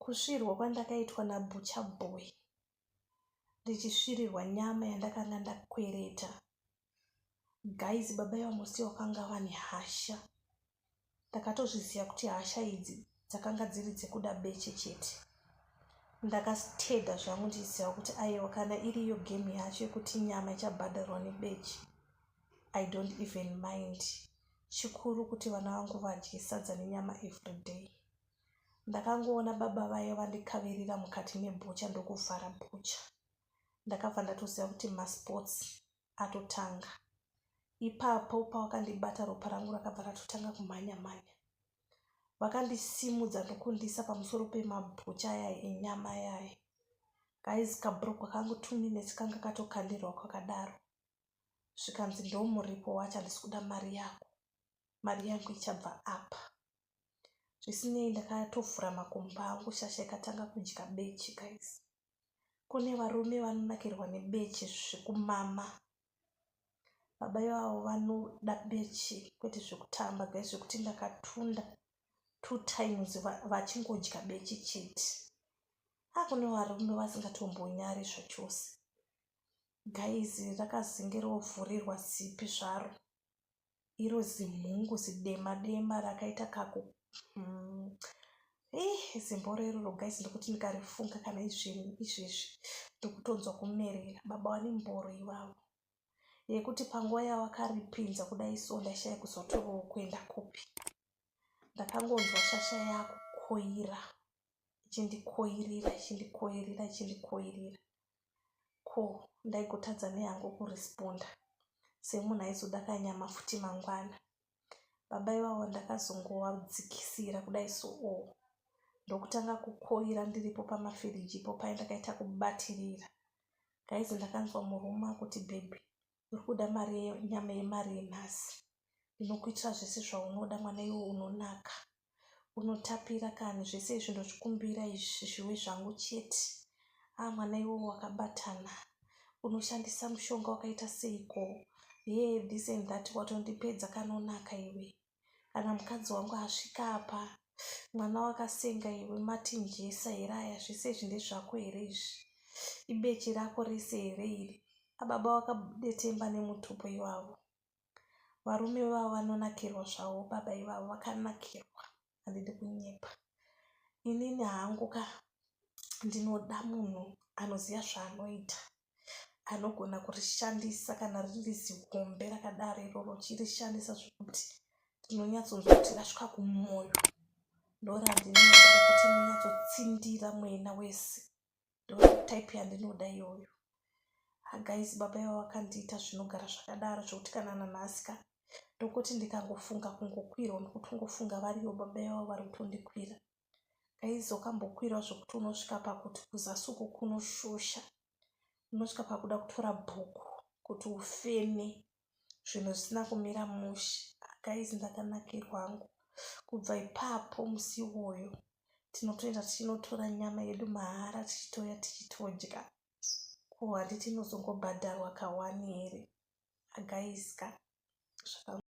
kusvirwa kwandakaitwa nabhucha boy ndichisvirirwa nyama yandakanga ndakwereta guys baba ivamusi vakanga vane hasha ndakatozviziva kuti hasha idzi dzakanga dziri dzekuda beche chete ndakateda zvangu ndichiziva kuti aiwa kana iriyo gemu yacho yekuti nyama ichabhadharwa nebeche i don't even mind chikuru kuti vana vangu vadye sadza nenyama every day ndakangoona baba vaye vandikavirira mukati mebhucha ndokuvhara bhucha ndakabva ndatoziva kuti masports atotanga ipapo pawakandibata ropa rangu rakabva ratotanga kumhanya mhanya vakandisimudza ndokundisa pamusoro pemabhucha aya enyama yaye guys kabrokwa kangu two minutes kanga katokandirwa kwakadaro zvikanzi ndomuripo wacho handisi kuda mari yako mari yangu ichabva apa zvisinei ndakatovhura makumba angu shasha ikatanga kudya bechi guys kune varume vanonakirwa nebechi zvekumama baba ivavo vanoda bechi kwete zvekutamba guys zvekuti ndakatunda two times vachingodya bechi chete akune varume vasingatombonyari zvachose gaizi rakazenge rovhurirwa zipi zvaro iro zimhungu zidema dema rakaita kaku mm. eh, zimboro iroro gaizi ndokuti ndikarifunga kana izveni izvezvi ndokutonzwa kumerera baba vane mboro ivavo yekuti panguva yavakaripinza kudai so ndaishaya kuzotovawo kuenda kupi ndakangonzwa shasha yakukoira ichindikoirira ichindikoirira ichindikoirira ko ndaigotadza neyangu kuresponda semunhu aizoda kanyama futi mangwana baba ivavo ndakazongovadzikisira kudai so o oh. ndokutanga kukoira ndiripo pamafiriji ipo paye ndakaita kubatirira gaizi ndakanzwa murume akuti bhebhi uri kuda mari nyama yemari yenhasi ndinokuitira zvese zvaunoda mwana iwo unonaka unotapira kani zvese izvi ndozvikumbira izvi zviwe zvangu chete a ah, mwana iwo wakabatana unoshandisa mushonga wakaita seiko ye this and that watondipedza kanonaka iwe kana mukadzi wangu asvika apa mwana wakasenga iwe matinjesa here aya zvese izvi ndezvako here izvi ibeche rako rese here iri ababa vakadetemba nemutupo ivavo varume vavo vanonakirwa zvavo baba ivavo vakanakirwa handidi kunyepa inini hangu ka ndinoda munhu anoziva zvaanoita anogona kurishandisa kana riri zihombe rakadaro iroro chirishandisa zvekuti ndinonyatsonzwa kuti rasvika kumwoyo ndorandinoda rekuti inonyatsotsindira mwena wese ndotype yandinoda iyoyo hagaizi ah, baba iva vakandiita zvinogara zvakadaro zvekuti kana nanhasi ka ndokuti ndikangofunga kungokwirwa nokuti ungofunga variyo baba iva vari kutondikwira aizokambokwira zvekuti unosvika pakuti kuzasuku kunoshusha unosvika pakuda kutora bhuku kuti ufeme zvinhu zvisina kumira mushe akaizi ndakanakirwa hangu kubva ipapo musi iwoyo tinotoenda tichinotora nyama yedu mahara tichitouya tichitodya ko handiti inozongobhadharwa kawani here agaiska zvaka